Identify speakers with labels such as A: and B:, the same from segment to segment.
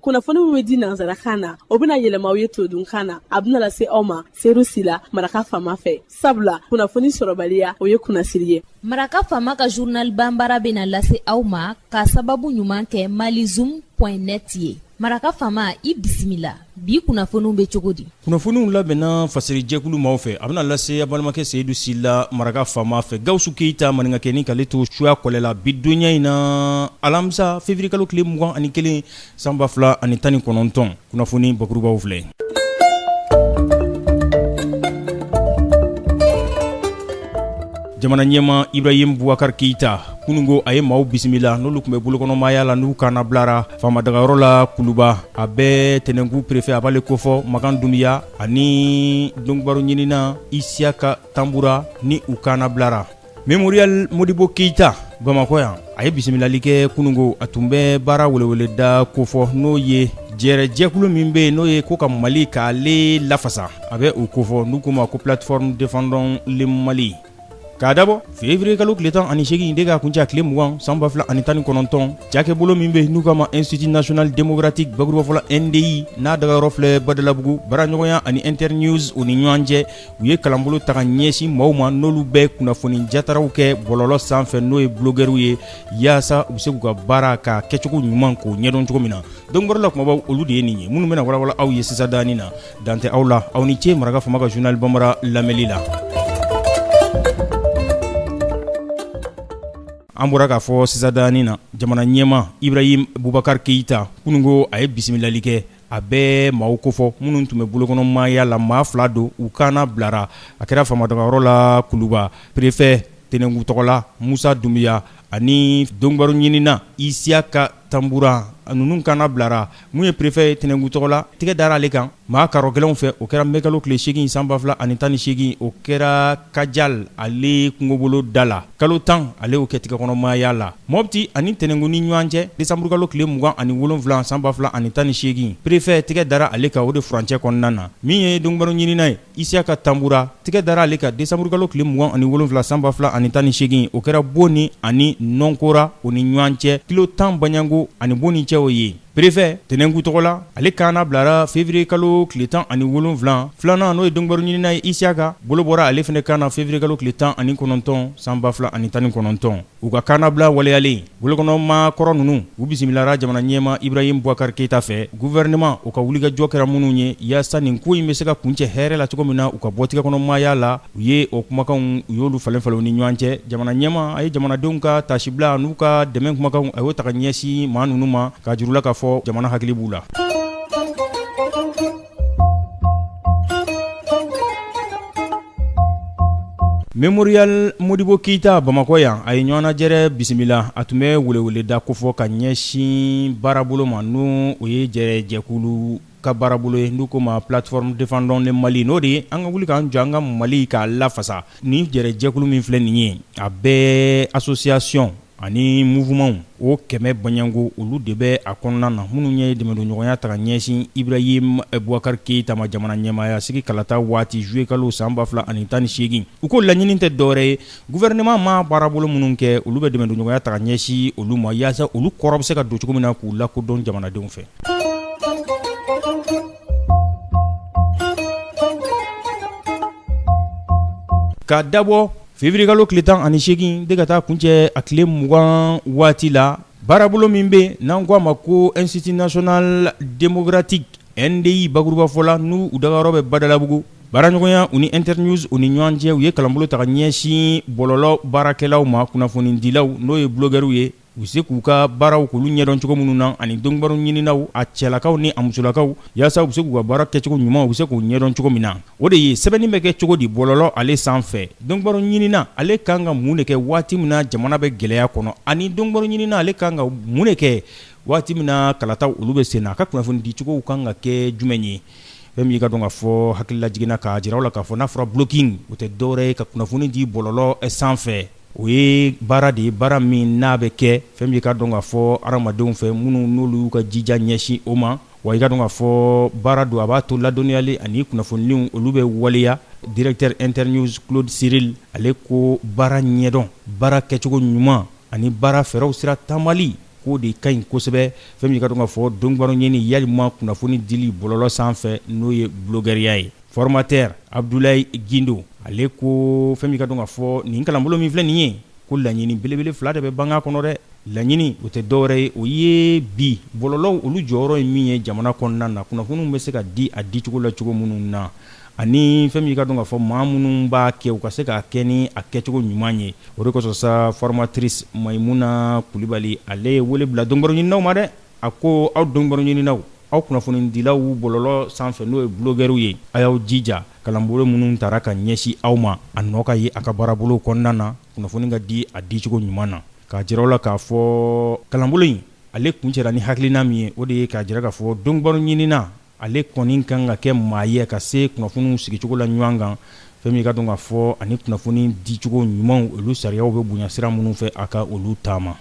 A: kunnafoni min bɛ di nansarakan na o bɛna yɛlɛma aw ye todunkan na a bɛna lase aw ma seyidu sila maraka faama fɛ sabula kunnafoni sɔrɔbaliya o ye kunnasiri ye maraka faama
B: ka zurnal banbara bɛna lase aw ma ka sababu ɲuman kɛ malizum net ye maraka faama i bisimila bi kunnafoniw bɛ cogo di kunnafoniw
C: labɛnna fasirijɛkulu maaw fɛ a bɛna lase a balimakɛ seyidu sila maraka faama fɛ gawusu keyita maninkakɛnin k'ale to suya kɔlɛ la bi donya in na alamisa feviriyekalo tile mugan ani kelen san ba fila ani tan ni kɔnɔntɔn kunnafoni bakurubaw filɛ jamana ɲɛmaa ibrahim bubakari keyita kununko a ye maaw bisimila n'olu tun bɛ bolokɔnɔmaaya la n'u kanna bilara faamadagayɔrɔ la kuluba a bɛ tɛnɛnkun perefe a b'ale kofɔ makan dunbiya ani donkibaru ɲinina isiyaka tanbura ni u kanna bilara memorial modibo keyita bamakɔ yan a ye bisimilali kɛ kununko a tun bɛ baara weleweleda kofɔ n'o ye jɛrɛjɛkulu min bɛ yen n'o ye ko ka mali k'ale lafasa a bɛ o kofɔ n'u k'o ma ko plateforme défendons le mali k'a dabɔ fevrier kalo tile tan ani seegin de ka kuncɛ tile mugan san ba fila ani tan ni kɔnɔntɔn cakɛbolo min be n'u k'a ma institut national démocratique bakurubafɔla ndi n'a dagayɔrɔ filɛ badalabugu baaraɲɔgɔnya ani internews u ni ɲɔgɔn cɛ u ye kalanbolo ta ka ɲɛsin maaw ma n'olu bɛ kunnafoni jataraw kɛ bɔlɔlɔ san fɛ n'o ye blogɛriw ye yaasa u be se k'u ka baara ka kɛcogo ɲuman k'o ɲɛdɔn cogo min na donkibaru la kumabaw olu de ye nin ye minnu bena walawala aw ye sisandanin na dan tɛ aw la aw ni ce maraka faama ka zurnal banbara lamɛnli la an bɔra k'a fɔ sisandanin na jamana ɲɛmaa ibrahim bubakari keyita kununko a ye bisimilali kɛ a bɛ maaw kofɔ minnu tun bɛ bolokɔnɔmaaya la maa fila don u kanna bilara a kɛra faamadagayɔrɔ la kuluba perefɛ tɛnɛnkun tɔgɔ la musa dunbiya ani donkibaru ɲininna isiyaka tanbura ninnu kanna bilara mun ye perefɛ ye tɛnɛnkun tɔgɔ la tɛgɛ dara ale kan maa karɔgɛlɛnw fɛ o kɛra mɛkalo tile seegin san ba fila ani tan ni seegin o kɛra kajal ale kungobolo da la kalo tan ale y'o kɛ tɛgɛkɔnɔmaaya la mɔti ani tɛnɛnkun ni ɲɔgɔn cɛ desanburukalo tile mugan ani wolonwula san ba fila ani tan ni seegin perefɛ tɛgɛ dara ale kan o de furancɛ kɔnɔna na min ye donkibaru ɲininna ye Isiyaka Tanbura tigɛ dara ale kan décembre kalo tile 27 san 2018 o kɛra Boni ani Nɔnkora o ni ɲɔgɔn cɛ kilo 10 baɲanko ani Boni cɛ o ye perefe Tɛnɛnkun tɔgɔ la, ale kanna bilara février kalo tile 17, filanan n'o ye donkibaru ɲininna ye Isiyaka bolo bɔra ale fɛnɛ kan na février kalo tile 19 san 2019. U ka kannabila waleyalen bolokɔnɔmaa kɔrɔ ninnu u bisimilara jamana ɲɛmaa Ibrahim Boubacar Keita fɛ gouvernement o ka wulikajɔ kɛra minnu ye yaasa nin ko in bɛ se ka kuncɛ hɛrɛ la cogo min na u ka bɔ tigɛkɔnɔmaaya la u ye o kumakanw u y'olu falen falen u ni ɲɔgɔn cɛ jamana ɲɛmaa a ye jamanadenw ka taasibila an'u ka dɛmɛn kumakanw a y'o ta ka ɲɛsin maa ninnu ma k'a jir'u la k'a fɔ jamana hakili b'u la Mémorial Modibo Keita Bamakɔ yan a ye ɲɔgɔnnajɛrɛ bisimila a tun bɛ weleweleda kofɔ ka ɲɛsin baarabolo ma n'o ye jɛrɛjɛkulu ka baarabolo ye n'u ko ma plateforme Défendons le Mali n'o de ye an ka wuli k'an jɔ an ka Mali k'a lafasa ni jɛrɛjɛkulu min filɛ nin ye a bɛɛ association ani mouvementw o kɛmɛ baɲɔgɔnko olu de bɛ a kɔnɔna na minnu ye dɛmɛdonɲɔgɔnya ta ka ɲɛsin Ibrahim Boubacar Keita ma jamana ɲɛmaaya sigi kalata waati juillet kalo san ba fila ani tan ni segin u ko laɲini tɛ dɔwɛrɛ ye gouvernement ma baarabolo minnu kɛ olu bɛ dɛmɛdonɲɔgɔnya ta ka ɲɛsin olu ma yaasa olu kɔrɔ bɛ se ka don cogo min na k'u lakodɔn jamanadenw fɛ ka dabɔ Février kalo tile tan ani segin de ka taa kuncɛ a tile mugan waati la baarabolo min bɛ n'an k'a ma ko Institut National Démocratique NDI bakurubafɔ la n'u u dagayɔrɔ bɛ Badalabugu baaraɲɔgɔnya u ni Internews u ni ɲɔgɔn cɛ u ye kalanbolo ta ka ɲɛsin bɔlɔlɔ baarakɛlaw ma kunnafonidilaw n'o ye blogueurw ye u bɛ se k'u ka baaraw k'olu ɲɛdɔn cogo minnu na ani donkibaru ɲininaw a cɛlakaw ni a musolakaw yaasa u bɛ se k'u ka baara kɛcogo ɲuman u bɛ se k'u ɲɛdɔn cogo min na o de ye sɛbɛnni bɛ kɛ cogo di bɔlɔlɔ ale san fɛ donkibaru ɲinina ale kan ka mun de kɛ waati min na jamana bɛ gɛlɛya kɔnɔ ani donkibaru ɲinina ale kan ka mun de kɛ waati min na kalataw olu bɛ sen na a ka kunnafoni dicogo kan ka kɛ jumɛn ye fɛn min i k'a dɔn k'a fɔ hakililajigin na k'a jira u la k'a fɔ n'a fɔra blogging o tɛ dɔwɛrɛ ye ka kunnafoni di bɔlɔlɔ san fɛ o ye baara de ye baara min n'a bɛ kɛ fɛn min i k'a dɔn k'a fɔ hadamadenw fɛ minnu n'olu y'u ka jija ɲɛsin o ma wa i k'a dɔn k'a fɔ baara don a b'a to ladɔnniyali ani kunnafoniw olu bɛ waleya directeur Internews Claude Cirille ale ko baara ɲɛdɔn baara kɛcogo ɲuman ani baara fɛɛrɛw sira taamali k'o de ka ɲi kosɛbɛ fɛn min i k'a dɔn k'a fɔ donkibaru ɲini yalima kunnafoni dili bɔlɔlɔ sanfɛ n'o ye blogueuriya ye Formateur Abdoulaye Guindo ale ko fɛn min i k'a dɔn k'a fɔ nin kalanbolo min filɛ nin ye ko laɲini belebele fila de bɛ banga kɔnɔ dɛ laɲini o tɛ dɔwɛrɛ ye o ye bi bɔlɔlɔw olu jɔyɔrɔ ye min ye jamana kɔnɔna na kunnafoniw bɛ se ka di a dicogo la cogo minnu na ani fɛn min i k'a dɔn k'a fɔ maa minnu b'a kɛ u ka se k'a kɛ ni a kɛcogo ɲuman ye o de kosɔn sa formatrice Maïmouna Coulibaly ale ye wele bila donkibaru ɲininaw ma dɛ A ko aw donkibaru ɲininaw aw kunnafonidilaw bɔlɔlɔ sanfɛ n'o ye bulɔgɛriw ye a y'aw jija kalanbolo minnu taara ka ɲɛsin aw ma a nɔ ka ye a ka baarabolo kɔnɔna na kunnafoni ka di a dicogo ɲuman na k'a jira la k'a fɔ kalanbolo in ale kuncɛra ni hakilina min ye o de ye k'a jira k'a fɔ donkibaru ɲinina Ale kɔni kan ka kɛ maa ye ka se kunnafoniw sigicogo la ɲɔgɔn kan fɛn min ka dɔn k'a fɔ ani kunnafoni dicogo ɲumanw olu sariyaw bɛ bonya sira minnu fɛ a ka olu taama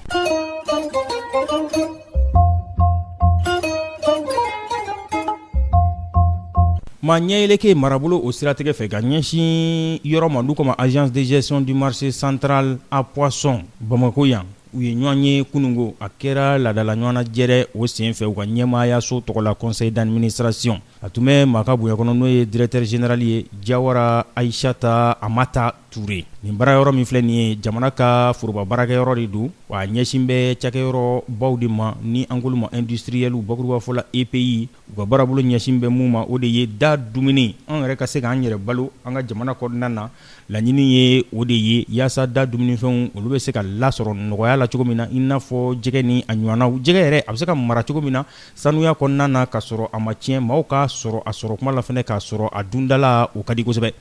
C: ma ɲɛyɛlɛke marabolo o siratigɛ fɛ ka ɲɛsin yɔrɔ ma olu k'a ma Agence de gestion du marché central à poisson bamakɔ yan u ye ɲɔgɔn ye kununko a kɛra laadala ɲɔgɔnnajɛrɛ o senfɛ u ka ɲɛmaayaso tɔgɔ la conseil d'administration a tun bɛ maa ka bonya kɔnɔ n'o ye directeur général ye Jawara Ayisata Amata Ture nin baara yɔrɔ min filɛ nin ye jamana ka foroba baarakɛ yɔrɔ de don wa ɲɛsin bɛ cakɛyɔrɔ baw de ma ni an k'olu ma industriel bakurubafɔ la EPI u ka baarabolo ɲɛsin bɛ mun ma o de ye da dumuni an yɛrɛ ka se k'an yɛrɛ balo an ka jamana kɔnɔna na laɲini ye o de ye yaasa da dumunifɛnw olu bɛ se ka lasɔrɔ nɔgɔya la cogo min na i n'a fɔ jɛgɛ ni a ɲɔgɔnnaw jɛgɛ yɛrɛ a bɛ se ka mara cogo min na sanuya kɔnɔna na ka sɔrɔ a ma tiɲɛ maaw k'a sɔrɔ a sɔrɔ kuma la fɛnɛ k'a sɔrɔ a dundala o ka di kosɛbɛ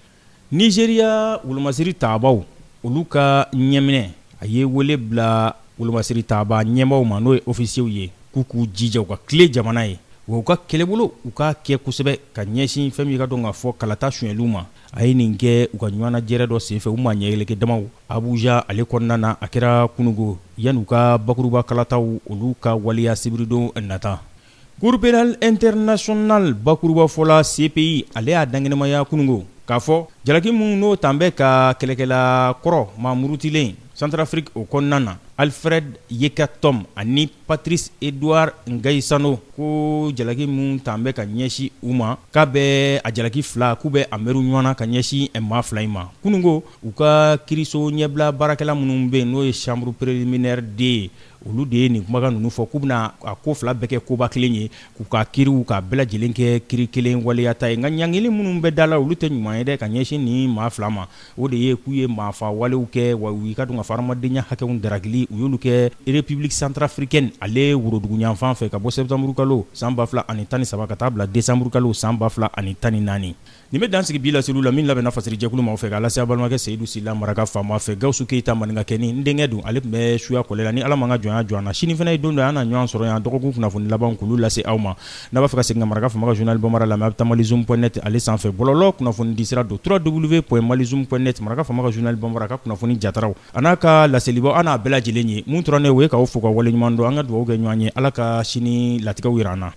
C: Nizeriya wolomasiri tabaaw olu ka ɲɛminɛ a ye wele bila wolomasiri tabaa ɲɛmaaw ma n'o ye ofisiyew ye k'u k'u jija u ka tilen jamana ye wa u ka kɛlɛbolo u k'a kɛ kosɛbɛ ka ɲɛsin fɛn min ka dɔn k'a fɔ kalata sonyali ma a ye nin kɛ u ka ɲɔgɔnnajɛrɛ dɔ senfɛ u ma ɲɛyɛlɛke dama abuja ale kɔnɔna na a kɛra kununko yani u ka bakuruba kalataw olu ka waleya sibiridon nata Cour pénale internationale bakurubafɔ la CPI ale y'a dankɛnɛmaya kununko k'a fɔ jalaki minnu n'o tan bɛ ka kɛlɛkɛla kɔrɔ maa murutilen Centrafrique o kɔnɔna na Alfred Yekatom ani Patrice Edouard Ngaïsano ko jalaki minnu tan bɛ ka ɲɛsin u ma k'a bɛ a jalaki fila k'u bɛ a mɛru ɲɔgɔn na ka ɲɛsin maa fila in ma kununko u ka kiiriso ɲɛbila baarakɛla minnu bɛ yen n'o ye chambre préliminaire deux ye Olu de ye nin kumakan ninnu fɔ k'u bɛna a ko fila bɛɛ kɛ koba kelen ye k'u ka kiiriw k'a bɛɛ lajɛlen kɛ kiiri kelen waleyata ye nka ɲangili minnu bɛ da la olu tɛ ɲuman ye dɛ ka ɲɛsin nin maa fila ma o de ye k'u ye maafa walew kɛ wa u ka dɔn k'a fɔ hadamadenya hakɛw darakili u y'olu kɛ République centrafricaine ale woroduguyanfan fɛ ka bɔ sɛtanburukalo san ba fila ani tan ni saba ka taa bila desanburukalo san ba fila ani tan ni naani Nin bɛ dan sigi bi laseliw la min labɛnna fasiri jɛkulu maaw fɛ k'a lase aw balimakɛ Seyidu Sila maraka faama fɛ Gawusu Keyita maninka kɛnin n denkɛ don ale tun bɛ suya kɔlɛ la ni Ala ma an ka jɔnya jɔ an na sini fana ye don dɔ ye an na ɲɔgɔn sɔrɔ yan dɔgɔkun kunnafoni labanw k'olu lase aw ma n'a b'a fɛ ka segin ka maraka faama ka journal Bambara lamɛn a bɛ taa malizoom.net ale sanfɛ bɔlɔlɔ kunnafonidisira don www.malizoom.net maraka faama ka journal Bambara a ka kunnafoni jataraw an'a ka laselibaaw a n'a bɛɛ lajɛlen ye mun tora ne ye o ye k'aw fo k'aw waleɲumandɔn an ka dugawu kɛ ɲɔgɔn ye Ala ka sini latigɛw jira an na.